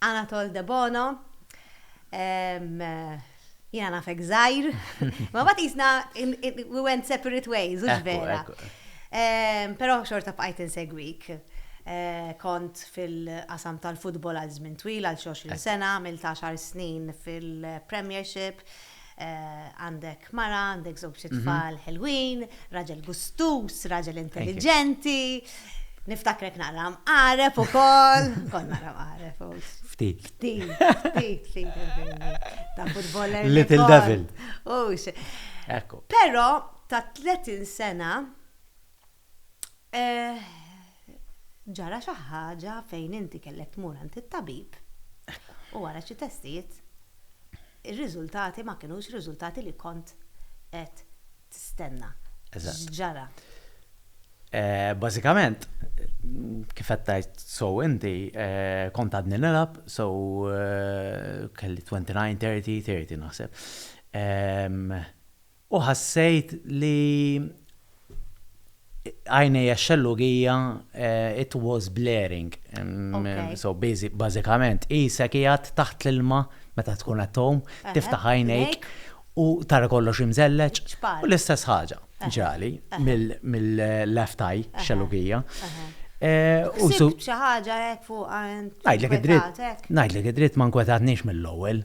Anatole Debono, Ehm, jiena nafek żgħir. Ma mbagħad qisna in- in- we went separate ways, hux Ekku, vera. ekku. Ehm, Però xorta bqajt insegwik. Eh, Kont fil-qasam tal-futbol għal żmien twil, għal xi 20 sena, għamilt għaxar snin fil-Premiership, Għandek mara, għandek żewġ itfal ħelwin, raġel gustuż, raġel intelliġenti. Niftakrek naqra mqareb ukoll, kont naqra mqareb. Ftit. Ftit, ftit, ftit. Ta' futboller. Little devil. Ux. Ekku. Però ta' 30 sena Eh, ġara xi ħaġa fejn inti kellek tmur għand it-tabib u wara xi testijiet ir-riżultati ma kinux riżultati li kont qed tistenna. Ġara. Eh, bażikament, kif qed tgħid so inti, eh, kont għadni nilab, so eh, kelli 29, 30, 30 naħseb. Ehm, U ħassejt li għajnejja x-xellugija it was blaring. So bażikament qisek qiegħed taħt l-ilma meta tkun qed tgħum, tiftaħ għajnejk u tara kollox imżelleġ. U l-istess ħaġa ġrali mill-left eye, xellugija. U su. Xi ħaġa hekk fuqha int. Ngħidlek id-dritt. Ngħidlek id-dritt ma nkwetatnix mill-ewwel.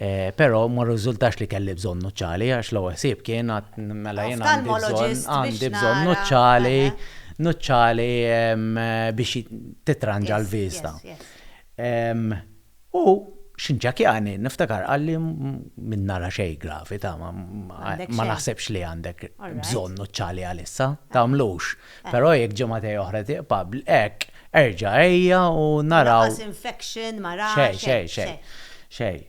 Pero, ma rriżultax li kelli bżonn nuċċali, għax l-ewwel ħsieb kien, mela jien għandi bżonn, għandi bżonn nuċċali, nuċċali biex titranġa l-vista. U x'inċakjani, niftakar qalli min nara xejn gravi, ta' ma naħsibx li għandek bżonn nuċċali għalissa, tagħmlux. Però jekk ġimagħtej oħra tiqpa' hekk, erġa' ejja u naraw. Lanqas infection ma ra xejn. Xejn, xejn, xejn.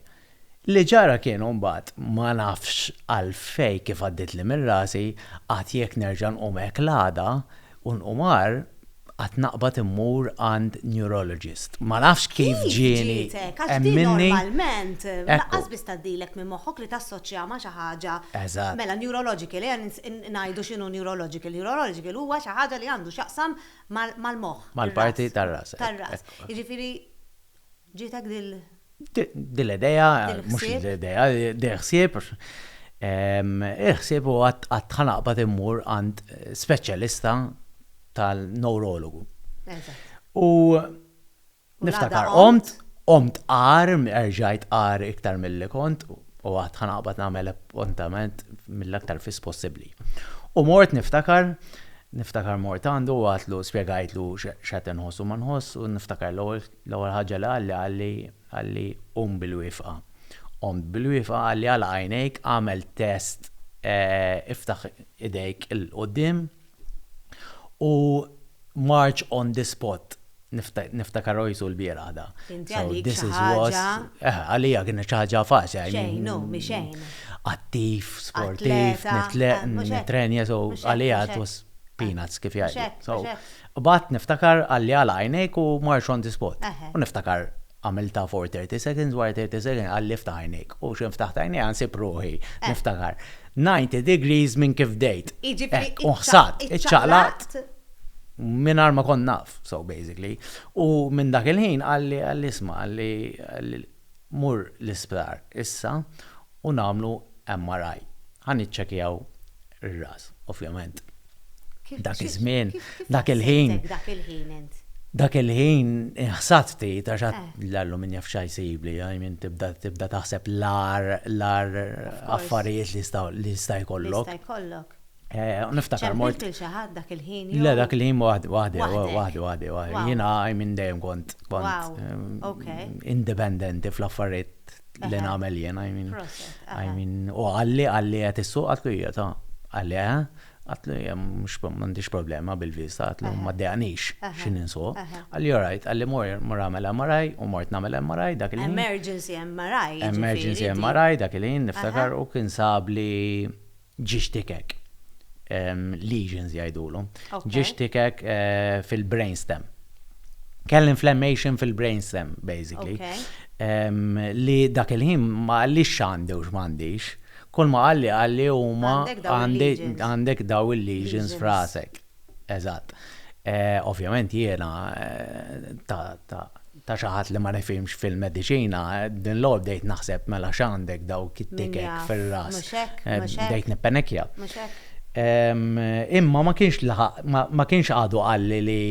Li ġara kien u mbagħad ma nafx għalfejn kif għaddietli minn rasi, għad jekk nerġa' nqum hekk l-għada u nqum agħar, għad naqbad immur għand neurologist. Ma nafx kif ġieni. Kif ġitek? Għax din normalment lanqas biss tgħaddilek minn moħħok li tassoċjaha ma' xi ħaġa. Eżatt. Mela neurological, ejja Ngħidu x'inhu neurological. Neurological huwa xi ħaġa li għandu x'jaqsam mal-moħħ. Mal-parti tar-ras. Tar-ras. Jiġifieri ġietek dil. Dil-idea, mhux dil-idea, dil-ħsieb. Il-ħsieb huwa qatt ħa naqbad immur għand speċjalista tal-newrologu. Eżatt. U Niftakar qomt, qomt għar, erġajt għar iktar milli kont u għad ħanaqbad nagħmel appuntament mill-aktar fis possibbli. U mort niftakar, niftakar mort għandu u għatlu spjegajtlu x'qed inħoss u ma nħoss u niftakar l-ewwel ħaġa li qalli qalli qalli qum bil-wifqa. Qomt bil-wifqa qalli għalaq għajnejk agħmel test iftaħ idejk 'il quddiem u march on the spot. Niftakar Ojsu l-bieraħ da. Inti għalik xi ħaġa. Għalija kienet xi ħaġa faċli. Xejn, hu, mi xejn. Attiv, sportiv, nitleq, nitrenja, so għalija it was peanuts kif jgħidu. Bad niftakar għalli għala għajnejk u mar xont ispot. U niftakar. Għamiltha for thirty seconds, wara thirty seconds qal li ftaħ għajnejk. U x'hemm ftaħt għajnejja nsib ruħi, niftakar, ninety degrees minn kif bdejt. Jiġifieri. U ħsart, iċċaqlaqt mingħajr ma kont naf, so basically. U minn dak il-ħin qal li, qal li isma', qal li, qal li mur l-isptar issa u nagħmlu MRI. Ħa niċċekkjaw r-ras, ovvjament. Dak iż-żmien, dak il-ħin. Dak il-ħin int. Dak il-ħin ħsat ftit għax eh. l-alluminja f'xa jsibli, għajmin tibda taħseb l-ar, l-ar affarijiet li sta jkollok. Sta jkollok. Eh, niftakar mort. Ċempilt xaħat dak il-ħin. Le, dak il-ħin waħdi, waħdi, waħdi, waħdi, waħdi. Jina għajmin dejjem kont. Wow. Eh, independenti fl-affarijiet li nagħmel jien, I mean. I mean, u għalli għalli qed issuq għatlu hija ta' għalli eh, għatlu hija mhux m'għandix problema bil-viża għatlu ma dejaqnix x'in insuq. Għalli all right, għalli mor mor għamel MRI u mort nagħmel MRI dak il-ħin. Emergency MRI. Emergency MRI dak il-ħin niftakar u kien sabli ġiex tikek, lesions jgħidulhom, ġiex tikek fil-brain stem. Kelli inflammation fil-brain stem, basically. Li dak il-ħin ma għallix x'għandi u x'mandix, kull ma għalli għalli huma għandek daw il-lesions frasek. Eżatt. Ovvjament jiena, ta' xi ħadd li ma nifhimx fil-mediċina, din l-għodd bdejt naħseb mela x'għandek dawk it-tikek fir-ras. Bdejt nippenekkja. Imma ma kienx laħaq, ma kienx għadu qalli li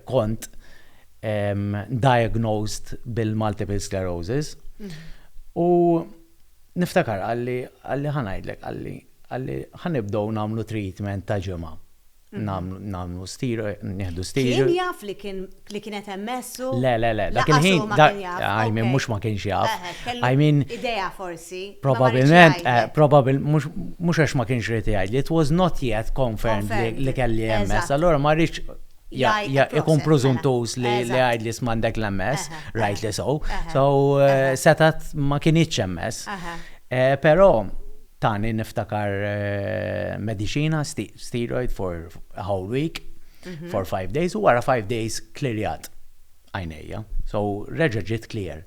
kont diagnosed bil-multiple sclerosis. U niftakar qalli, qalli ħa ngħidlek, qalli, Qal li, Ħa nibdew nagħmlu treatment ta' ġimgħa. Nagħmlu steroid, nieħdu steroid. Kien jaf li kien li kienet hemm mess u. Le, le, le, dak il-ħin. Lanqas hu ma kien jaf. I mean, mhux ma kienx jaf. I mean. Idea forsi. Probabbilment, probabbilment, mhux, mhux għax ma kienx irid jgħidli, it was not yet confirmed li kelli MS, allura ma rridx ikun presumptuż li jgħidli isma' għandek l-MS, rightly so. So setgħet ma kinitx MS. Però. Tani niftakar mediċina steroid for a whole week, mhm. for five days, u wara five days klirjat għajnejja. So reġa ġit clear.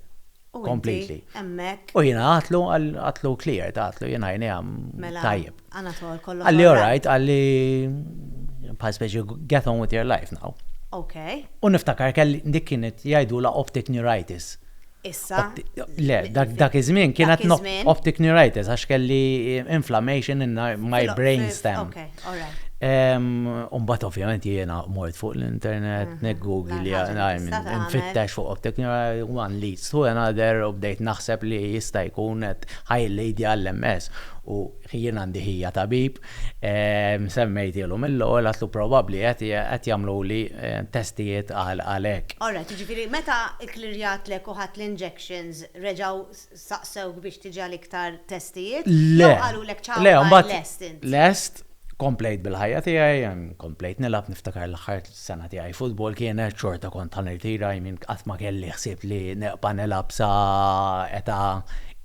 Completely. Emmek. U jina għatlu għatlu clear, għatlu jina jina għam mela, tajib. Anatol, kollu. Għalli alright, għalli pa' speċi get on with your life now. Ok. U niftakar kelli dik kienet jgħidu la optic neuritis. Issa. Le, dak iż-żmien kienet optic neuritis għax kelli inflammation in my brain stem. Umbat ovvjament jiena mort fuq l-internet, mhm. neggugli li għajmin, nfittex fuq optic neuritis, one leads to another, u bdejt naħseb li jista' jkun qed ħajlejdi għall-MS u jiena għandi ħija tabib. Semmejtielhom il-lowell għax hu probabbli qed jagħmluli testijiet għal hekk. All right, jiġifieri meta kklirjatlek u ħadt l-injections reġgħu staqsewk biex tiġi għal iktar testijiet? Le. Jew qalulek ciao bye lest int? Lest, komplejt bil-ħajja tiegħi, komplejt nilgħab niftakar l-aħħar sena tiegħi futbol kienet xorta kont ħa nirtira I mean qatt ma kelli ħsieb li nibqa' nilgħab sa età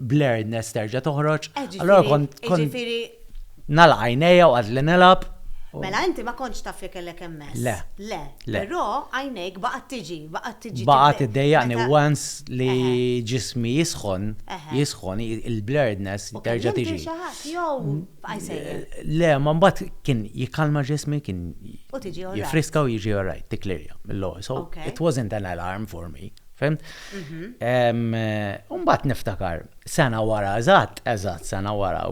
blurredness terġa' toħroġ. Allora kont jiġifieri nagħlaq għajnejja u għadli nilgħab. Mela inti ma kontx taf li kellek MS? Le. Le. Però għajnejk baqgħet tiġi, baqgħet tiġi. Baqgħet iddejjaqni once li ġismi jisħon, jisħon il-blurredness terġa' tiġi. Kellimtni xi ħadd jew bqajt sejjer? Le, ma mbagħad kien jikkalma ġismi, kien jifriska u jiġi alright, tikklirja mill-ewwel. So it wasn't an alarm for me. Fimt? Mhm. Umbat niftakar, sena wara, eżatt, eżatt, sena wara,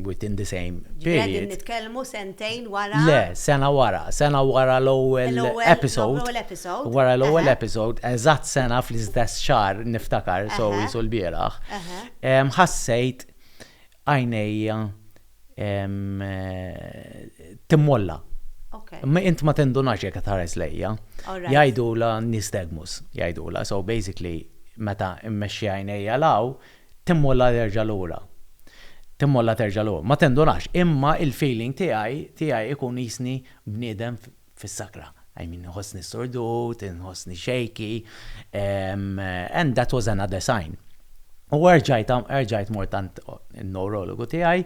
within the same period. Għedin nitkelmu sentejn wara. Le, sena wara, sena wara l-ewel episode. Wara l-ewel episode, eżatt sena fl-istess xar niftakar, so jisul bieraħ. Ħassejt għajnejja timmolla. Int ma tindunax jekk qed tħares lejja. Jgħidulha nystagmus, jgħidulha. So basically meta mmexxi għajnejja 'l hawn, timmolla terġa' lura. Timmolla terġa' lura. Ma tindunax, imma il-feeling tiegħi, tiegħi ikun qisni bniedem fis-sakra. I mean, nħossni sordut, nħossni shaky, and that was another sign. U erġajt, erġajt mort tant il-neurologu tijaj,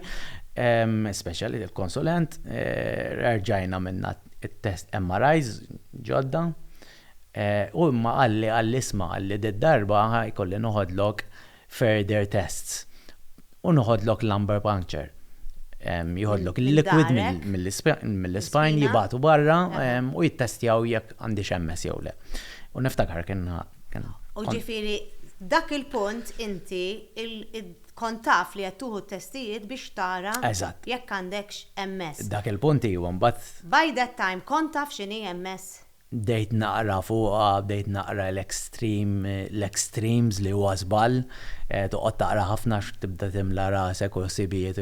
special il-konsulent, eh, erġajna minna il-test MRIs ġodda, eh, u imma għalli għalli isma għalli d-darba għaj kolli noħodlok further tests u noħodlok lumbar puncture. Joħodlok il-liquid mill-ispine jibgħatu barra u jittestjaw jekk għandix MS jew le. U niftakar kien. U ġifieri dak il-punt inti kont taf li qed tuħu t-testijiet biex tara jekk għandekx MS. Dak il-punt iva mbagħad. By that time kont taf x'inhi MS? Bdejt naqra fuqha, bdejt naqra l-extreme, l-extremes li huwa żball, toqgħod taqra ħafna għax tibda timla rasek u ħsibijiet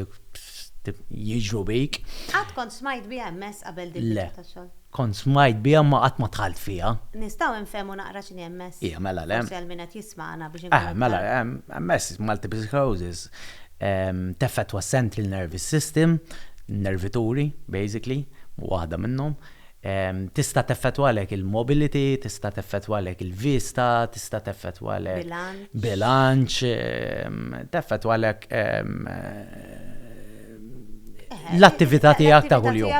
jiġru bik. Qatt kont smajt biha MS qabel din l-età tax-xogħol? Le. Kont smajt biha imma qatt ma dħalt fiha. Nistgħu nfehmu naqra x'inhi MS? Iva, mela le. Forsi għal min qed jismagħna biex inkunu iktar. Aha, mela, MS, multiple sclerosis, teffettwa s-central nervous system, nervituri basically, waħda minnhom. Tista' teffettwalek il-mobility, tista' teffettwalek il-vista, tista' teffettwalek. Bilanċ. Bilanċ, teffettwalek l-attività tiegħek ta' kuljum.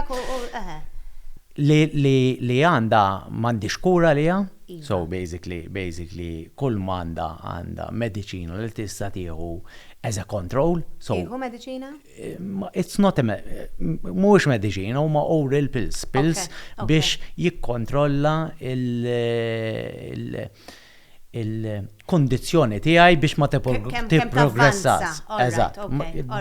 Li għandha m'għandhiex kura għaliha, so basically, basically kull ma għandha għandha mediċina li tista' tieħu as a control. Tieħu mediċina? It's not a mhuwiex mediċina huma oral pills, pills biex jikkontrolla il-kondizzjoni tiegħi biex ma tipprogressax. Eżatt.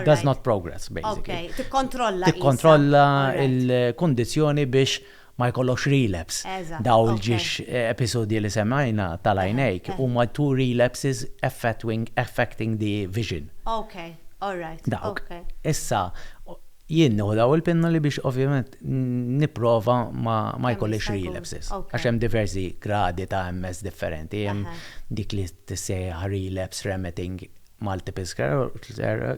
Does not progress, basically. Tikkontrolla. Tikkontrolla il-kondizzjoni biex ma jkollokx relapse. Dawn il-ġiex episodji li semmejna tal-għajnejk huma two relapses affecting the vision. Dawk. Issa, jien nieħu dawn il-pinnoli biex ovvjament nipprova ma jkollix relapses. Għax hemm diversi gradi ta' MS differenti. Hemm dik li tissejjaħ relapse-remitting multiple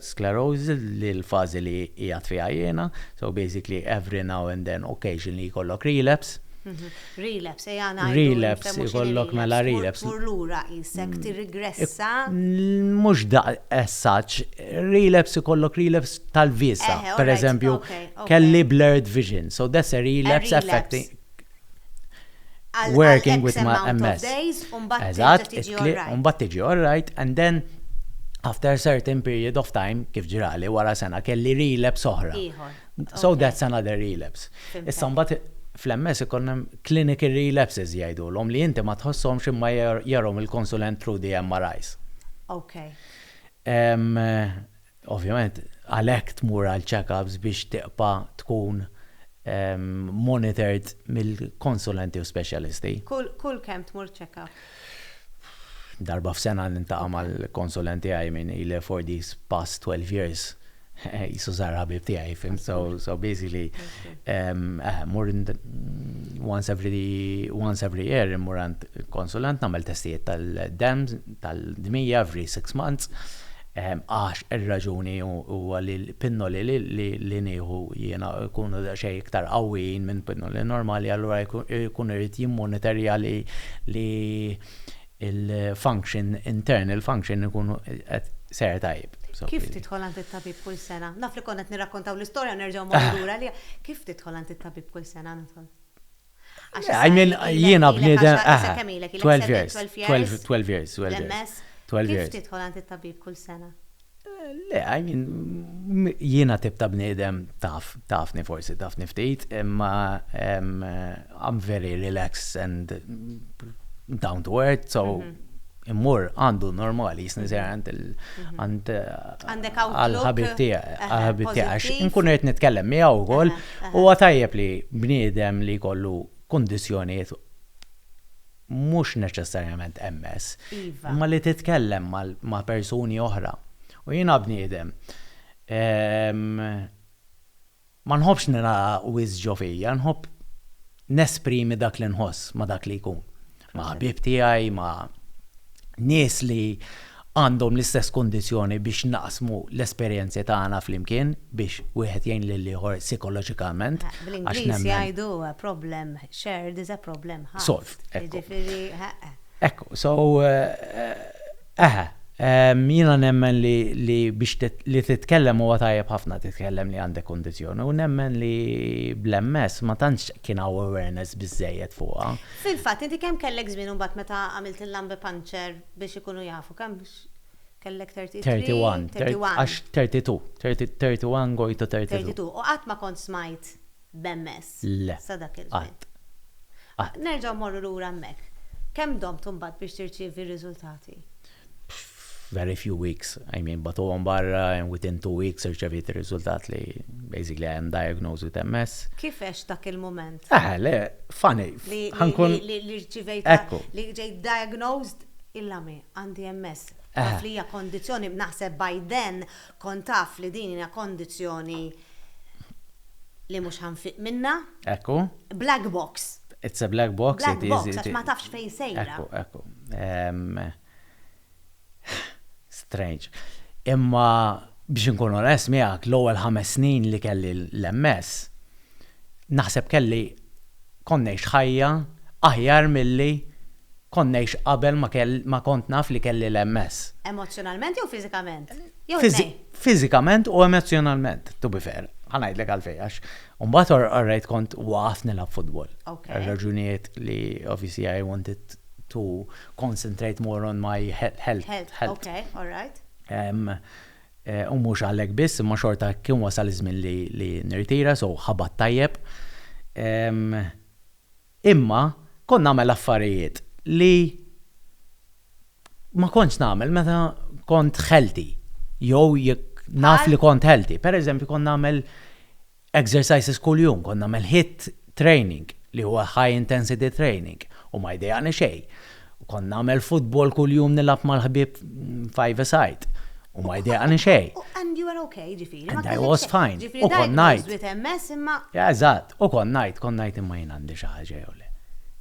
sclerosis li l-fażi li qiegħed fiha jiena, so basically every now and then occasionally jkollok relapse. Relapse, ejja ngħidu. Relapse, jkollok mela relapse. Tmur lura qisek tirrigressa. Mhux as such, relapse ikollok relapse tal-vista. Per eżempju, kelli blurred vision, so that's a relapse affecting. Working with my MS. Eżatt, it-tliq, u mbagħad tiġi all right, and then after a certain period of time, kif ġrali, wara sena kelli relapse oħra. So that's another relapse. Issa mbagħad fl-MS ikun hemm clinical relapses jgħidulhom li inti ma tħosshomx imma jarahom il-konsulent through the MRIs. Ovvjament għalhekk tmur għal check-ups biex tibqa' tkun monitored mill-konsulenti u speċjalisti. Kull kemm tmur check-up? Darba f'sena niltaqa' mal-konsulent tiegħi min ili for these past 12 years qisu sar ħabib tiegħi, fimt? So basically mmur once every year immur għand konsulent nagħmel testijiet tal-demm, tal-dmija every six months. Għax ir-raġuni huwa li l-pinnoli li nieħu jiena jkunu daqsxejn iktar qawwijin minn pinnoli normali allura jkun irid jimmonitorja li l-function, internal function ikun qed sejjer tajjeb. Kif tidħol għand it-tabib kull sena? Naf li konna qed nirrakkontaw l-istorja u nerġgħu mmorru lura għaliha. Kif tidħol għand it-tabib kull sena nidħol? I mean, jiena bniedem, ah, 12 years, 12, 12 years, 12 years. Kif tidħol għand it-tabib kull sena? Le, I mean, jiena tip ta' bniedem taf, tafni forsi, tafni ftit, imma I'm very relaxed and down to earth, so. immur għandu normali jisni sejra għand għand għal-ħabib tiegħek għax nkun qed nitkellem miegħu wkoll huwa tajjeb li bniedem li jkollu kundizzjonijiet mhux neċessarjament MS, iva. imma li titkellem ma' persuni oħra. U jiena bniedem ehm, Ma nħobbx ningħala wisq ġo fija, nħobb nesprimi dak li nħoss ma' dak li jkun. Ma' ħbieb tiegħi, ma' nies li għandhom l-istess kundizzjoni biex naqsmu l-esperjenzi tagħna flimkien biex wieħed jgħin lill-ieħor sikoloġikament għax nemmen. Bl-Ingliż jgħidu a problem shared is a problem halved. Jiġifieri, eħe. Ekku, so, Eħe, jiena nemmen li biex li titkellem huwa tajjeb ħafna titkellem li għandek kundizzjoni u nemmen li bl-MS ma tantx kien hawn awareness biżżejjed fuqha. Fil-fatt, inti kemm kellek żmien imbagħad meta għamilt il-lumbar puncture biex ikunu jafu kemm kellek 33? 31. 31. Għax 32. 31 going to 32. 32. U qatt ma kont smajt b'MS sa dak il-żmien. Le. Qatt. Nerġgħu mmorru lura hemmhekk. Kemm domt imbagħad biex tirċievi r-riżultati? Very few weeks. I mean, bagħtuhom barra and within two weeks irċeviet ir-riżultat li basically I am diagnosed with MS. Kif għext dak il-mument? Eħe, le, funny. Ħa nkun. Li rċivejt. Ekku. Li ġejt diagnosed, il-lami, għandi MS. Eħe. Taf li hija kondizzjoni, naħseb by then Kont taf li din hija kondizzjoni li mhux ħa nfiq minnha. Ekku. Black box. It's a black box. Black box, għax ma tafx fejn sejra. Ekku, ekku. Strange. Imma biex inkun onest miegħek, l-ewwel ħames snin li kelli l-MS, naħseb kelli kont ngħix ħajja aħjar milli Kont ngħix qabel ma kelli ma kont naf li kelli l-MS. Emozzjonalment jew fiżikament? Jew it-tnejn? Fiżikament u emozzjonalment, to be fair. Ħa ngħidlek għalfejn għax imbagħad orrejt kont waqaft nilgħab futbol. Għal raġunijiet li obviously I wanted to concentrate more on my health. Health, ok, all right. U mhux għalhekk biss imma xorta kien wasal iż-żmien li nirtira so ħabadt tajjeb. Imma kont nagħmel affarijiet li ma kontx nagħmel meta kont healthy jew jekk naf li kont healthy. Per eżempju kont nagħmel exercises kuljum, kont nagħmel HIIT training li huwa high intensity training u ma jdejjaqni xejn. U kont nagħmel futbol kuljum nilgħab mal-ħbieb five a side. U ma jdejqani xejn. And you were okay, ġifieri. And I was fine. U kont ngħid. Ġifieri dgħid ma sbit imma. Eżatt, u kont ngħid, kont ngħid imma jien għandi xi ħaġa jew le.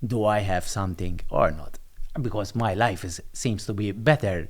Do I have something or not? Because my life is seems to be better.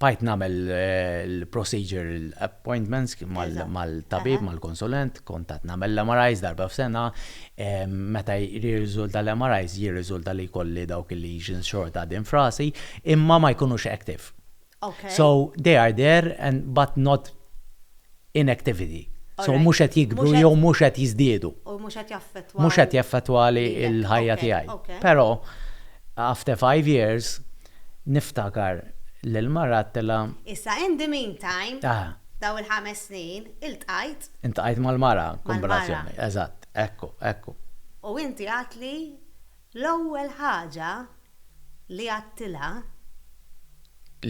bqajt nagħmel l-procedure appointments mal-tabib, mal-konsulent, kont qed nagħmel l-MRIs darba f'sena, meta jirriżulta l-MRIs jirriżulta li jkolli dawk il-lesions xorta għadin f'rasi, imma ma jkunux active. So they are there and but not inactivity. So mhux qed jikbru jew mhux qed jiżdiedu. U mhux qed jaffettwa. Mhux qed jaffettwali l-ħajja tiegħi. Però after five years niftakar li l-mara għedtilha. Issa in the meantime, dawn il-ħames snin, iltqajt. Iltqajt mal-mara, kombinazzjoni. Eżatt. Ekku, ekku. U inti għedtli L-ewwel ħaġa li għadtilha.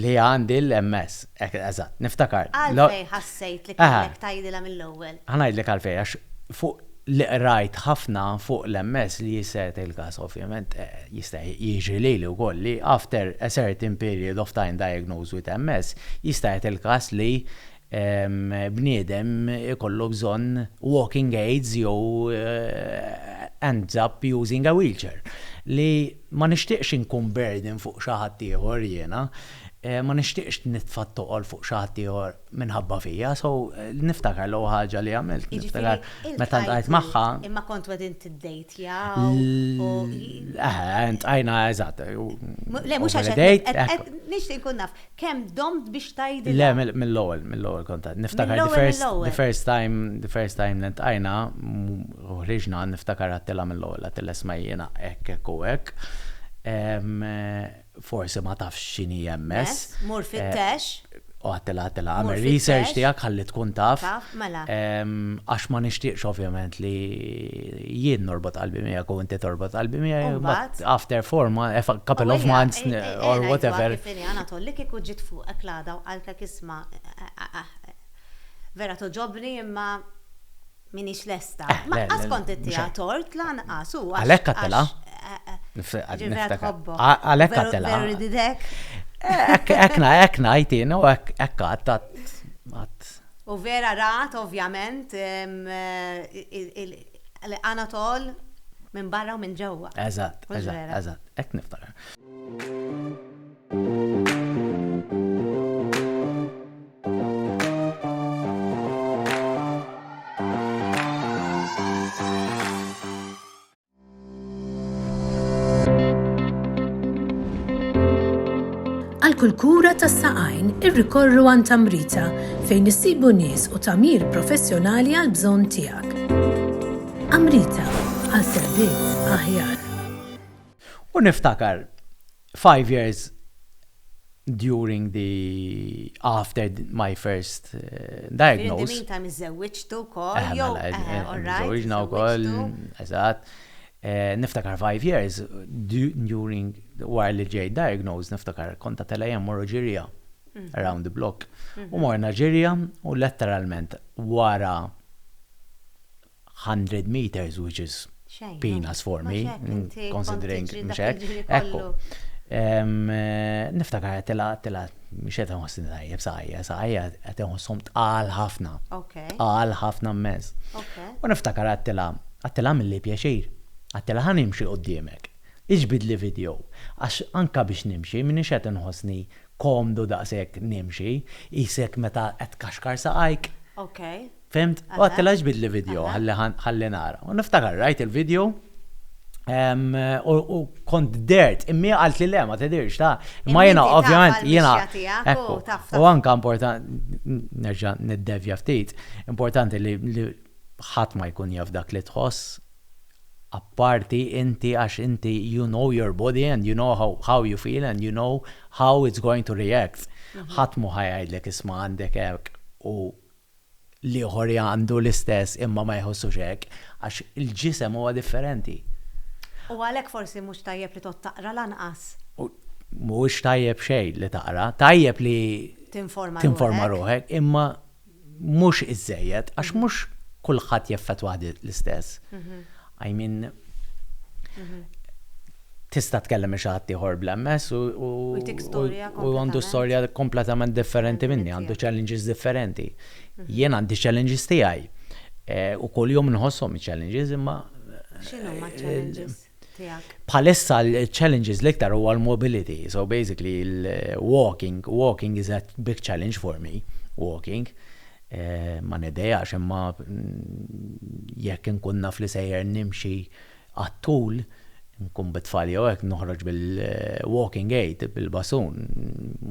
Li għandi l-MS. Hekk, eżatt, niftakar. Għalfejn ħassejt li kellek tgħidilha mill-ewwel? Ħa ngħidlek għalfejn, għax fuq li qrajt ħafna fuq l-MS li jisseret il-każ, ovvjament, jista' jiġri lili wkoll li after a certain period of time diagnosed with MS, jista' jgħid il-każ li bniedem ikollu bżonn walking aids jew ends up using a wheelchair. Li ma nixtieqx inkun burden fuq xi ħadd ieħor jiena, ma nixtieqx nitfa' t-toqol fuq xi ħadd ieħor minħabba fija. So, niftakar l-ewwel ħaġa li għamilt, niftakar meta ltqajt magħha. Jiġifieri iltqajtu, imma kontu qegħdin tiddejtjaw u. Eħe, iltqajna, eżatt. Le, mhux għax qed. Nixtieq inkun naf. Kemm domt biex tgħidilha? Le, mill-ewwel, mill-ewwel kont għad niftakar. Mill-ewwel, mill-ewwel. The first time, the first time li ltqajna u ħriġna għad niftakar għadtilha mill-ewwel, għadtilha isma' jiena hekk, hekk u hekk. Forsi ma tafx x'inhi MS. Mur fittex. U għadtilha, għadtilha, għamel research tiegħek ħalli tkun taf. Taf, mela. Għax ma nixtieqx ovvjament li. Jien norbot qalbi miegħek u inti torbot qalbi miegħi. Mbagħad? After four months, a couple of months or whatever. Ejja, ngħidluha kif inhi, Anatol, li kieku ġiet fuqek l-għada u qaltlek isma', vera togħġobni imma m'iniex lesta. Ma qatt kont ittiha tort lanqas u għax. Għalhekk għadtilha. Ġifieri vera tħobbok. Għalhekk għadtilha. Vera rididek. Hekk ngħid jien u hekk għadt. U vera rat ovvjament l-Anatol minn barra u minn ġewwa. Eżatt, eżatt, eżatt. Hekk niftakar. Għal kull kura tas-saqajn irrikorru għan tamrita fejn issibu nies u tamir professjonali għal bżonn tiegħek. Amrita għal servizz aħjar. U niftakar Five years during the after my first diagnosis. In the meantime iżżewwiġtu wkoll jew Iżżewwiġna wkoll, eżatt. Niftakar five years during wara li ġejt diagnosed niftakar kont għad telgħa jien mmorru ġirja around the block. U morna ġirja u letteralment wara hundred meters which is peanuts for me, considering mhux hekk. Ekku. Niftakar qed tilgħab tilgħab mhux qed inħossni tajjeb saqajja, saqajja qed inħosshom tqal ħafna. Tqal ħafna mmens. U niftakar qed tilgħab, qed tilgħab milli pjaċir. Qed tilgħab ħa nimxi quddiemek. Iġbidli video. Għax anke biex nimxi m'iniex qed inħossni komdu daqshekk nimxi, qisek meta qed tkaxkar saqajk. Fhimt? U għadtilha għax bidli video ħalli ħalli nara. U niftakar rajt il-video u kont dert, immi għalt li le ma tidirx ta' ma jena ovvjament jena. U anka importanti, nerġa' niddevja ftit, importanti li ħadd ma jkun jaf dak li tħoss apparti inti għax inti you know your body and you know how, how you feel and you know how it's going to react. Mhm. ħadd mu ħajajdlek isma' għandek hekk u l-ieħor jgħandu l-istess imma ma jħossux hekk għax il-ġisem huwa differenti. U għalhekk forsi mhux tajjeb li tgħodd taqra lanqas. Mhuwiex tajjeb xejn li taqra, tajjeb li tinforma ruħek imma mhux iżżejjed għax mhux kulħadd jeffettwah l-istess. I mean, tista' tkellem xi ħadd ieħor bl-MS u u għandu storja kompletament differenti minni, għandu challenges differenti. Mhm. Jien għandi challenges tiegħi. Eh, u kull jum nħossom challenges imma. X'inhu ma' eh, challenges tiegħek? Bħalissa l-challenges l-iktar huwa l-mobility, so basically l-walking, walking is a big challenge for me, walking. Ma nidejax, imma jekk inkun naf li sejjer nimxi għat-tul, inkun bit-tfal jew hekk, noħroġ bil-walking aid, bil-basun.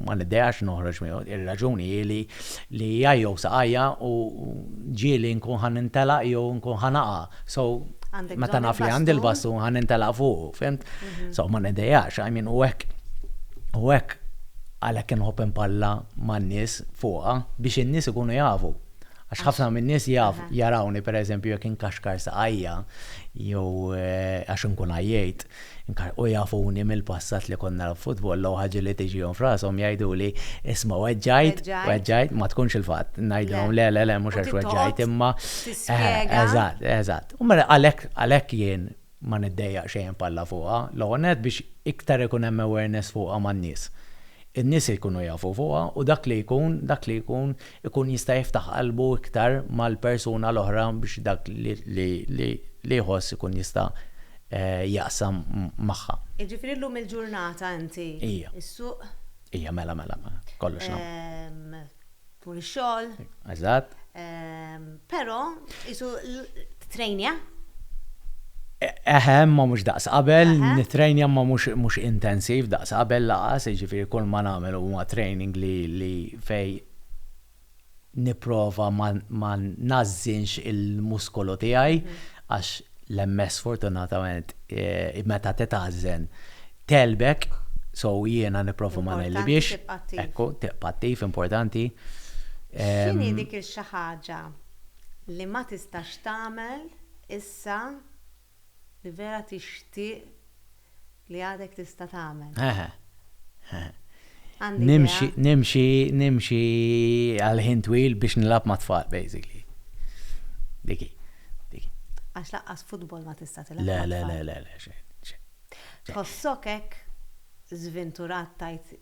Ma nidejax noħroġ miegħu. Ir-raġuni hi li jgħajjow saqajja u ġieli nkun ħa nintelaq jew nkun ħa naqa'. So, meta naf li għandi l-basun ħa nintelaq fuqu, fhimt? So, ma nidejax. I mean, u hekk, u hekk. Għalhekk inħobb inpalla man-nies fuqha biex in-nies ikunu jafu. Għax ħafna min-nies jaf, jarawni pereżempju jekk inkaxkar saqajja jew għax inkun għajjejt, inka, u jafuni mill-passat li kont nilgħab futbolla u ħaġa li tiġihom f'rashom jgħiduli, isma' weġġajt, weġġajt, ma tkunx il-fatt. Ngħidilhom, le, le, le, mhux għax weġġajt imma, eħe, eżatt, eżatt. U mela għalhekk, għalhekk jien ma niddejjaq xejn b'Alla fuqha, l-ewwel nett biex iktar ikun hemm awareness fuqha man-nies. In-nies ikunu jafu fuqha u dak li jkun, dak li jkun, ikun jista' jiftaħ qalbu iktar mal-persuna l-oħra biex dak li jħoss ikun jista' jaqsam magħha. Jiġifieri llum il-ġurnata inti s-suq. Ija, mela, mela, mela. Kollox nagħmlu. Tul ix-xogħol. Eżatt. Ehm, però isu trejnja? Eħe, ma mhux daqs qabel, nitrejnja ma mhux intensiv daqs qabel laqas, jiġifieri kull ma nagħmel huwa training li fej nipprova ma nażżinx il-muskolu tiegħi mhm. għax l-MS sfortunatament meta titgħażżen tegħlbek, so jiena nipprova ma negħlibhiex. Ekku, tibqa' attiv, importanti. X'inhi dik ix-xi ħaġa li ma tistax tagħmel issa li vera tixtieq Li għadek tista' tagħmel. Eħe. Eħe. Għandi idea. Nimxi, nimxi, nimxi għal ħin twil biex nilgħab mat-tfal, basically. Dik hi. Dik hi. Għax laqqas futbol ma tista' tilgħab Le, le, mat-tfal. le, le, le, xejn, xejn. Tħossok hekk żvinturat tgħid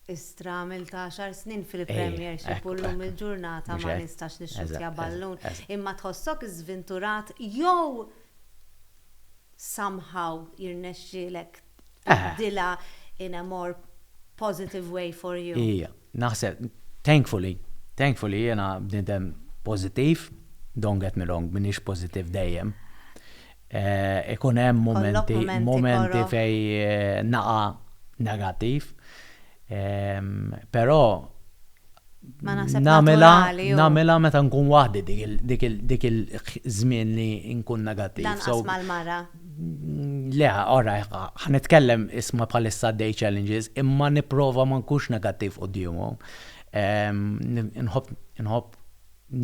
Istra għamilt għaxar snin fil-Premiership u Ejja, hekk, llum hekk. il-ġurnata Mhux ma hekk? nistax nixxuttja Eżatt, ballun. eżatt, eżatt. Imma tħossok żvinturat jew somehow jirnexxielek tbiddilha in a more positive way for you. Ija, naħseb, thankfully, thankfully jiena bniedem pożittiv, don't get me wrong, m'iniex pożittiv dejjem. Ikun hemm mumenti, mumenti fejn naqa' negattiv, però, Ma naħseb naturali u. Nagħmilha meta nkun waħdi dik il-żmien li nkun negattiv. Lanqas mal-mara. Le, ora, ħa nitkellem isma' bħalissa għaddej challenges, imma nipprova ma nkunx negattiv quddiemhom. Inħobb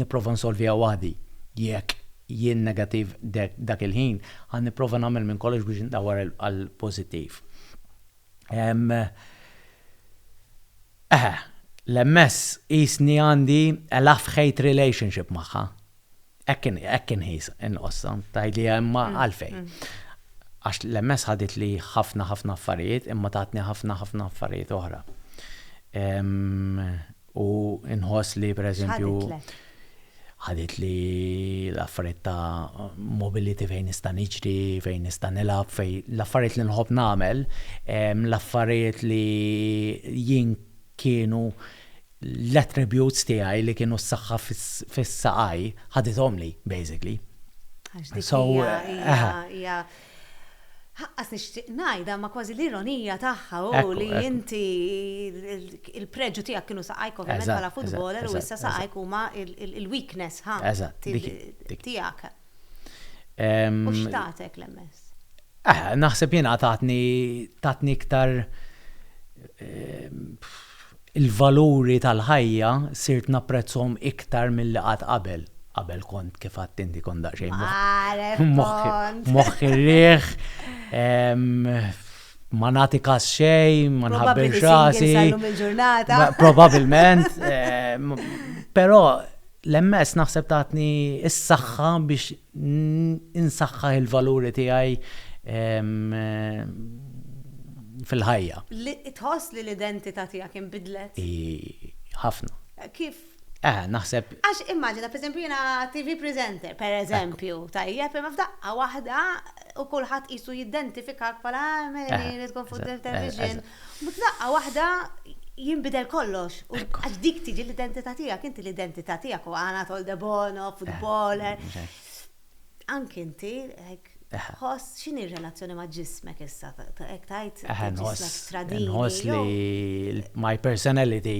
nipprova nsolviha waħdi. Jekk jien negattiv dak il-ħin, ħa nipprova nagħmel minn kollox biex indawwar għall-pożittiv. Eħe, l-MS qisni għandi a love-hate relationship magħha. Hekk inħis, inqossha, tgħidliha imma għalfejn? Għax l-MS ħaditli ħafna ħafna affarijiet imma tatni ħafna ħafna affarijiet oħra. U nħoss li pereżempju. Ħaditli l-affarijiet ta' mobility fejn nista' niġri, fejn nista' nilgħab, fejn l-affarijiet li nħobb nagħmel, l-affarijiet li jien kienu l-attributes tiegħi li kienu s-saħħa fis-saqajj, ħadithomli basically. Għax dik hija Ħaqqas nixtieq ngħidha, ma kważi l-ironija tagħha hu li inti il-preġu tiegħek kienu saqajk ovvjament bħala futboler u issa saqajk huma l-weakness ħa tiegħek. U x'tatek l-MS? Naħseb jiena tatni iktar Il-valuri tal-ħajja sirt napprezzhom iktar milli qatt qabel. Qabel kont, kif għedt inti, kont daqsxejn moħħi rieħ, ma nagħti kas xejn, ma nħabbirx rasi. Probabbilment. Però l-MS naħseb tatni s-saħħa biex insaħħaħ il-valuri tiegħi fil-ħajja. Tħoss li l-identità tiegħek inbidlet? Ħafna. Kif? Eħe, naħseb. Għax immaġina, per eżempju, jiena TV presenter, per eżempju, tajjeb, imma f'daqqa waħda u kulħadd qisu jiddentifika bħala għameli li tkun fuq television. U f'daqqa waħda jinbidel kollox. Għax dik tiġi l-identità tiegħek, inti l-identità tiegħek u għana tol de bono, eh, futboler. Anki inti, ħoss x'inhi r-relazzjoni ma' ġismek issa, hekk tajt ġismek tradini. Ħoss li my personality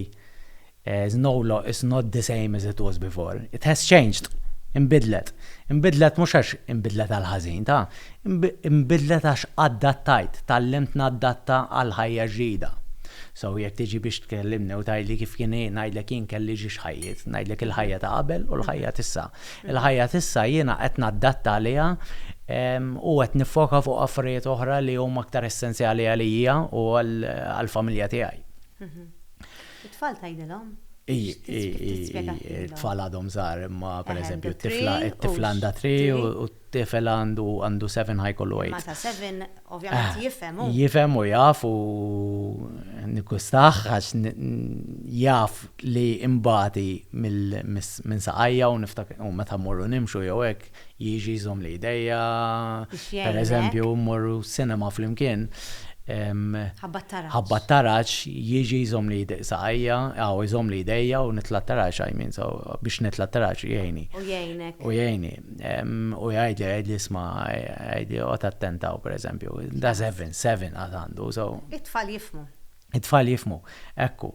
Znoullo is not the same as it was before. It has changed. Inbidlet. Inbidlet mhux għax inbidlet għall-ħażin, ta. Inbidlet għax addattajt, tgħallimt naddatta għall-ħajja ġdida. So, jekk tiġi biex tkellimni u tgħidli kif kien hi, ngħidlek jien kelli ġiex ħajjiet. Ngħidlek il-ħajja ta' qabel u l-ħajja t'issa. Il-ħajja t'issa jiena qed naddatta għaliha u qed niffoka fuq affarijiet oħra li huma aktar essenzjali għalija u għall-familja tiegħi. It-tfal tgħidilhom? It-tfal għadhom żgħar imma pereżempju t-tifla t-tifla għandha three u t-tifel għandu għandu seven ħa jkollu eight. Meta seven ovvjament jifhem hu. Jifhem u jaf u nikkustaħ għax jaf li imbagħad hi minn saqajja u niftakar u meta mmorru nimxu jew hekk jiġi jżommli jdejja, pereżempju mmorru sinema flimkien, ħabba taraġ jiġi jżommli saqajja, aw jżommli jdejja u nitla' taraġ għajmin, so biex nitla' taraġ jgħini. U jgħinek. U jgħini. U jgħidli, jgħidli isma' jgħidli oqgħod attent hawn pereżempju. Da seven, seven għad għandu, so. It-tfal jifhmu. It-tfal jifhmu, hekk hu.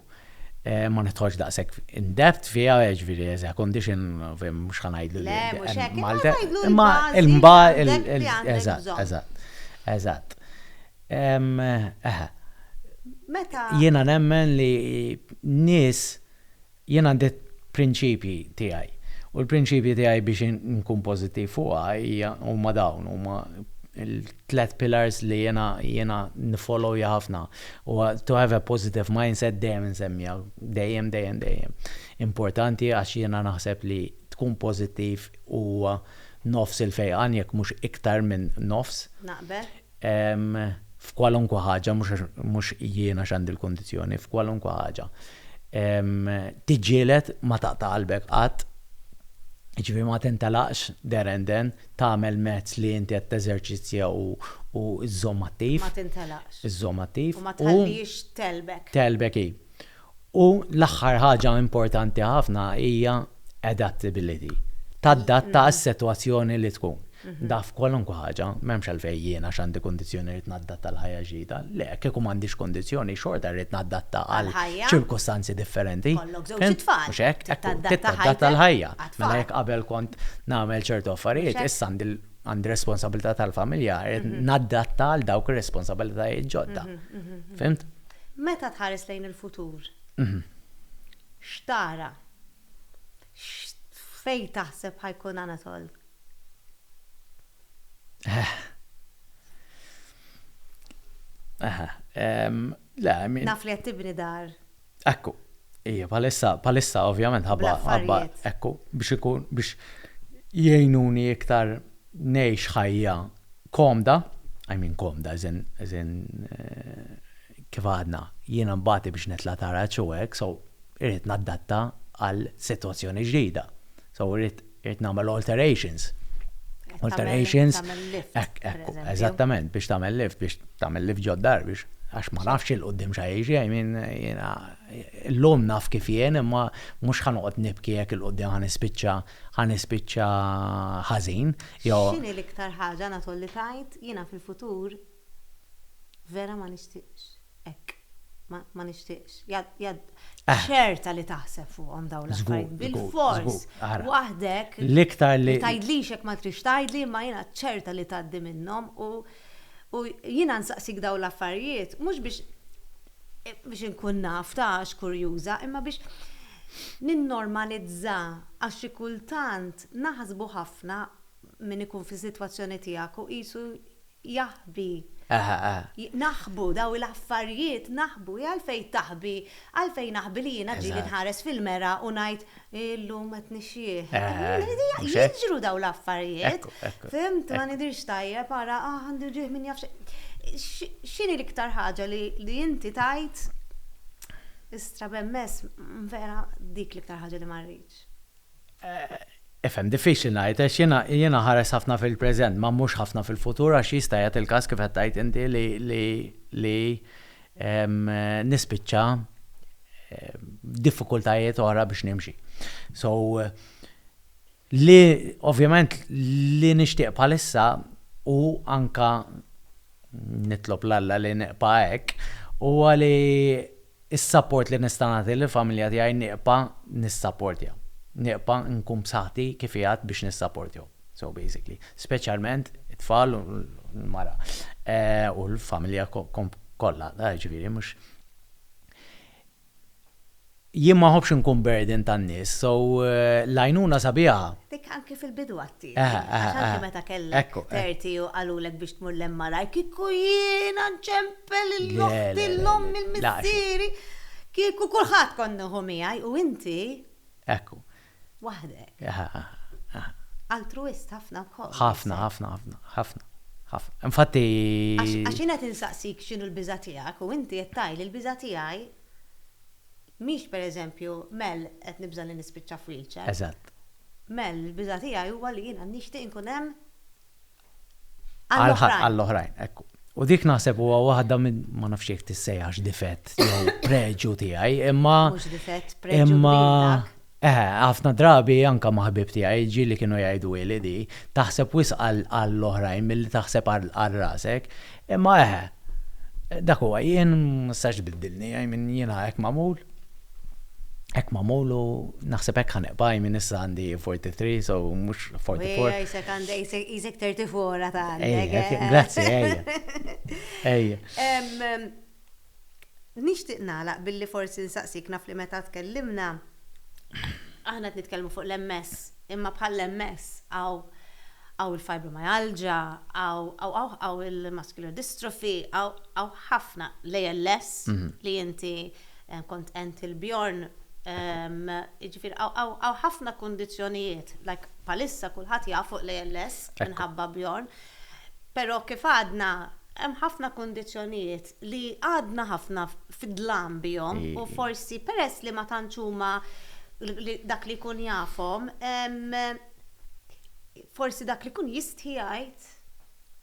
Ma nidħolx daqshekk in depth fiha, jiġifieri as a condition, mhux ħa ngħidlu li. Le, mhux hekk, imma ngħidlu li. Imma il-mbagħad. Eżatt, eżatt, eżatt. Eħe. Meta. Jiena nemmen li nies Jien għandi prinċipji tiegħi u l-prinċipji tiegħi biex inkun pożittiv fuqha hija huma dawn, huma l-tliet pillars li jiena jiena niffollowja ħafna. Huwa to have a positive mindset dejjem insemmija, dejjem dejjem dejjem. Importanti għax jiena naħseb li tkun pożittiv huwa nofs il-fejqan jekk mhux iktar minn nofs. Naqbel. f'kwalunkwe ħaġa, mhux jien għax għandi l-kundizzjoni, f'kwalunkwe ħaġa, tiġġieled, ma taqta' qalbek qatt, jiġifieri ma tintelaqx there and then, tagħmel mezz li inti qed teżerċizzja u żżomm attiv. Ma tintelaqx. Żżomm attiv. U ma tħallihiex tgħelbek. Tgħelbek hi. U l-aħħar ħaġa importanti ħafna hija adaptability, tadatta għas-sitwazzjoni li tkun. Naf kwalunkwe ħaġa, m'hemmx għalfejn jien għax għandi kundizzjoni rrid naddatta għal ħajja ġdida. Le, kieku m'għandix kundizzjoni xorta rrid naddatta għal ċirkustanzi differenti. Mhux hekk? Ekku, titadatta l-ħajja. Mela jekk qabel kont nagħmel ċertu affarijiet, issa għandi responsabilità tal-familja, rrid naddatta għal dawk ir-responsabilitajiet ġodda. Fhimt? Meta tħares lejn il-futur, x'tara? Fejn taħseb ħa jkun Anatol? Naf li qed tibni dar. Ekku. Ija, palissa, palissa, ovvjament, ħabba, ħabba, ekku, biex ikun, biex jgħinuni iktar nejx ħajja komda, I mean komda as in, as in kif għadna, jiena nbati biex nitla' taraġ u hekk, so irrid naddatta għal sitwazzjoni ġdida. So irrid nagħmel alterations. Alterations. Tagħmel lift. Hekk, hekk, eżattament, biex tagħmel lift, biex tagħmel lift ġod dar biex għax ma nafx il-qudiem xa jiġi, I mean jiena l-lum naf kif jien imma mhux ħa noqgħod nibki jekk il-qudiem ħa nispiċċa ħa nispiċċa ħażin jew. X'inhi l-iktar ħaġa Anatol li tgħid jiena fil-futur vera ma nixtieqx hekk. Ma nixtieqx. Ċerta li taħseb fuqhom dawn l-affarijiet. Bilfors. Waħdek. L-iktar li. Ma tgħidlix hekk ma trix tgħidli imma jiena ċerta li tgħaddi minnhom u jiena nsaqsik dawn l-affarijiet mhux biex inkun naf ta' għax kurjuża imma biex Ninnormalizza għax xi kultant naħsbu ħafna min ikun fis-sitwazzjoni tiegħek u qisu jaħbi. Naħbu dawn l-affarjiet naħbu. Hi għalfejn taħbi? Għalfejn naħbi li jiena ġieli nħares fil-mera u ngħid illum qed nixjieħ. Jiġru dawn l-affarjiet. Fhimt? Ma nidhirx tajjeb ara għandi wġigħ min jaf x'inhi. X'inhi l-iktar ħaġa li inti tgħid Istra b'MS, Vera dik l-iktar ħaġa li ma rridx. Ifhem, diffiċli ngħid għax jiena jien nħares ħafna fil-preżent ma mhux ħafna fil-futur għax jista' jagħti l-każ kif qed tgħid inti li nispiċċa b'diffikultajiet oħra biex nimxi. So li ovvjament li nixtieq bħalissa hu anke nitlob 'l Alla li nibqa' hekk, huwa li s-sapport li nista' nagħti lill-familja tiegħi nibqa' nissapportja. Nibqa' nkun b'saħħti kif qiegħed biex nissapportjhom. So basically. Speċjalment it-tfal u l-mara. U l-familja kollha, jiġifieri mhux. Jien ma nħobbx inkun burden tan-nies, so l-għajnuna sabiħa. Dik anki fil-bidu għattieli. Eħe, eħe, eħe. Għax anki meta kellek. Ekku, ekku. Thirty u qalulek biex tmur l-MRI, kieku jiena nċempel lil oħti, Le, le, le, le. lil ommi, lil missieri, kieku kulħadd kont nieħu miegħi u inti. Ekku. waħdek. Altruwist ħafna wkoll. Ħafna, ħafna, ħafna, ħafna, ħafna. Infatti. Għax jien qed insaqsik x'inhu l-biża' tiegħek u inti qed tgħidli l-biża' tiegħi mhix pereżempju, Mel, qed nibża' li nispiċċa f'wheelchair. Eżatt. Mel, il-biża' tiegħi huwa li jiena nixtieq inkun hemm għall-oħrajn, ekku. U dik naħseb huwa waħda minn ma nafx jekk tissejjaħx difett jew preġju tiegħi, imma. Mhux difett, preġju tiegħek. Eh, ħafna drabi anke ma' ħbieb tiegħi ġieli kienu jgħidu li di taħseb wisq għall-oħrajn milli taħseb għal rasek. Imma eħe, dak huwa, jien ma nistax tbiddilni, I mean jiena hekk magħmul, hekk magħmul u naħseb hekk ħa nibqa', I mean issa għandi 43 so mhux 44. Ejja, isek għandek, isek 34 għad għandek. Grazzi, ejja. Ejja. Nixtieq nagħlaq billi forsi nsaqsik, naf li meta tkellimna, aħna qed nitkellmu fuq l-MS, imma bħall-MS hawn il-fibromyalgia, hawn il-muscular dystrophy, hawn ħafna, l-ALS li inti kont qennt il-Bjorn, jiġifieri hawn ħafna kundizzjonijiet, like bħalissa kulħadd jaf fuq l-ALS minħabba Bjorn. Però kif għadna, hemm ħafna kundizzjonijiet li għadna ħafna fid-dlam bihom u forsi peress li ma tantx huma dak li jkun jafhom, forsi dak li jkun jistħi jgħid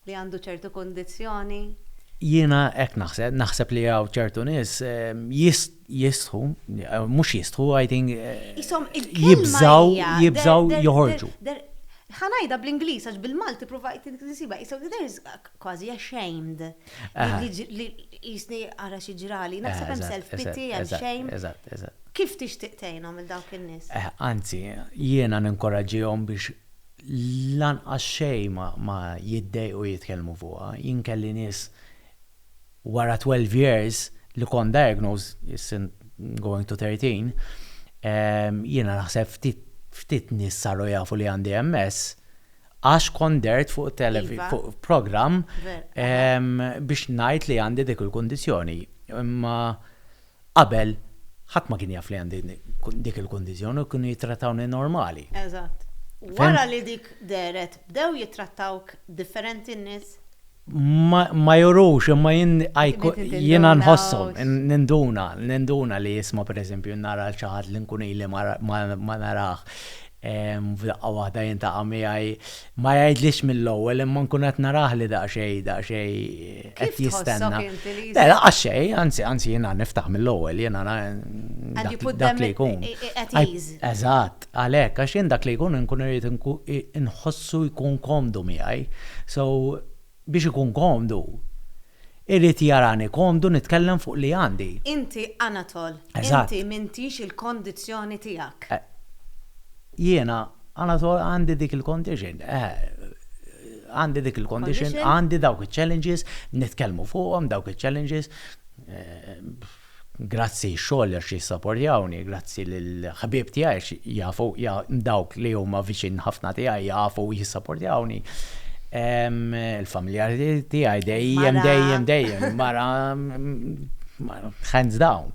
li għandu ċertu kundizzjoni. Jiena hekk naħseb, naħseb li hawn ċertu nies, jistħu, mhux jistħu, I think, jibżgħu, jibżgħu joħorġu. Ħa ngħidha bl-Ingliż għax bil-Malti provajt insibha, qishom there is kważi ashamed li jisni ara xi ġrali, naħseb hemm self pity, hemm shame. Eżatt, eżatt. Kif tixtieq tgħinhom lil dawk in-nies? Anzi, jiena ninkoraġġihom biex lanqas xejn ma jiddejqu jitkellmu fuqha, jien kelli nies Wara 12 years li kont diagnosed, issa going to 13, jiena naħseb ftit ftit nies saru jafu li għandi MS għax kont dehrt fuq televi fuq programm biex ngħid li għandi dik il-kundizzjoni. Imma. Qabel, ħadd ma kien jaf li għandi dik il-kundizzjoni u kienu jittrattawni normali. Eżatt. Wara li dik dehret, bdew jittrattawk differenti n-nies? Ma jurux, imma jien jiena nħosshom, ninduna, ninduna li jisma' pereżempju nara lil xi ħadd li nkun ili ma narah. F'daqqa waħda jintaqa' miegħi. Ma jgħidlix mill-ewwel imma nkun qed narah li daqsxejn, daqsxejn qed jistenna. Kif tħossok inti li. Le laqqas xejn, anzi, anzi jiena niftaħ mill-ewwel, jiena dak li jkun. At ease. Eżatt, għalhekk, għax jien dak li jkun inkun irrid inħossu jkun komdu miegħi. So. Biex ikun komdu. Irid jarani komdu nitkellem fuq li għandi. Inti Anatol. Eżatt. Inti m'intix il-kondizzjoni tiegħek. Jiena Anatol għandi dik il-condition. Għandi dik il-condition, għandi dawk iċ-challenges, nitkellmu fuqhom dawk iċ-challenges. Grazzi xogħol għax jissapporjawni, grazzi lill-ħbieb tiegħi għax jafu dawk li huma viċin ħafna tiegħi jafu u jissapporjawni. Il-familjari tiegħi dejjem dejjem dejjem mara hands down.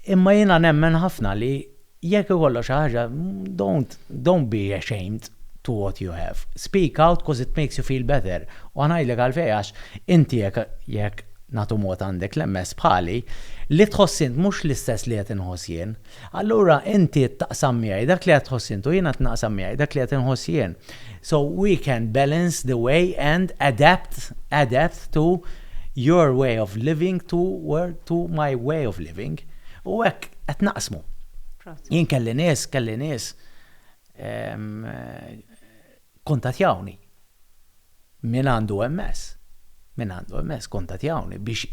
Imma jiena nemmen ħafna li jekk ikollok xi ħaġa, don't, don't be ashamed to what you have. Speak out 'cause it makes you feel better. U ħa ngħidlek għalfejn għax inti jekk, jekk, nagħtu mod għandek l-MS bħali, li tħoss int mhux l-istess li qed inħoss jien. Allura inti taqsam miegħi dak li qed tħoss int u jiena qed naqsam miegħi dak li qed inħoss jien. So we can balance the way and adapt adapt to your way of living to where to my way of living. U hekk qed naqsmu. Jien kelli nies, kelli nies ehm, kuntatjawni. Min għandu MS? Min għandu MS kontatjawni biex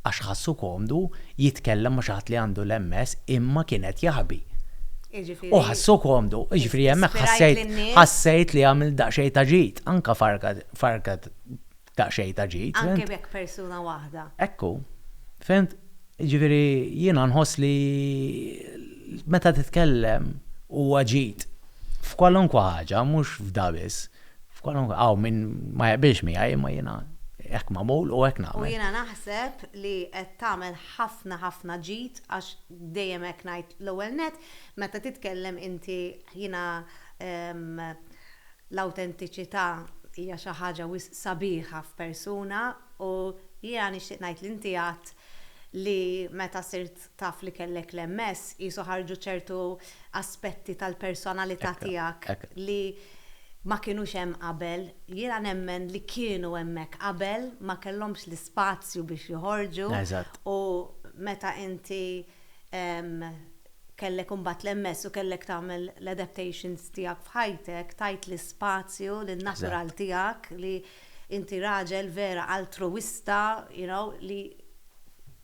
għax ħassu komdu jitkellem ma xi ħadd li għandu l-MS imma kien qed jaħbi. U ħassu komdu, jiġifieri hemmhekk ħassejt ħassejt li għamilt daqsxejn ta' ġid, anke farka farka daqsxejn ta' ġid. Anke jekk persuna waħda. Ekku. Fimt? Jiġifieri jiena nħoss li meta titkellem huwa ġid f'kwalunkwe ħaġa mhux f'da biss. F'kwalunkwe hawn min ma jaqbilx miegħi imma jiena hekk magħmul u hekk nagħmel. U jiena naħseb li qed tagħmel ħafna ħafna ġid għax dejjem hekk ngħid l-ewwel nett meta titkellem inti jiena l-awtentiċità hija xi ħaġa wisq sabiħa f'persuna u jiena nixtieq ngħid li inti għedt li meta sirt taf li kellek l-MS, qisu ħarġu ċertu aspetti tal-personalità tiegħek li ma kinux hemm qabel. Jiena nemmen li kienu hemmhekk qabel, ma kellhomx l-ispazju biex joħorġu u meta inti kellek imbagħad l-MS u kellek tagħmel l-adaptations tiegħek f'ħajtek, tajt l-ispazju lin-natural tiegħek li inti raġel vera altruwista, you know, li.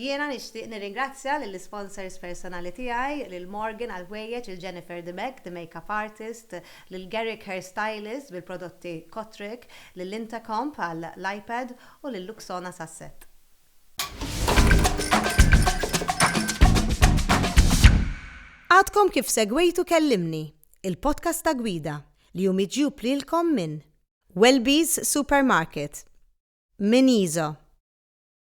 Jiena nixtieq nirringrazzja lill-isponsors personali tiegħi, lil Morgan għall-ħwejjeġ, lil Jennifer De Meg, The Makeup Artist, lil Garrick Hair Stylist bil-prodotti Kotrick, lil Intacomp għall-iPad u lil Luxona sas-sett. Għadkom kif segwejtu Kellimni, il-podcast ta' Gwida, li hu miġjub lilkom minn. Welby's Supermarket, minn Iso.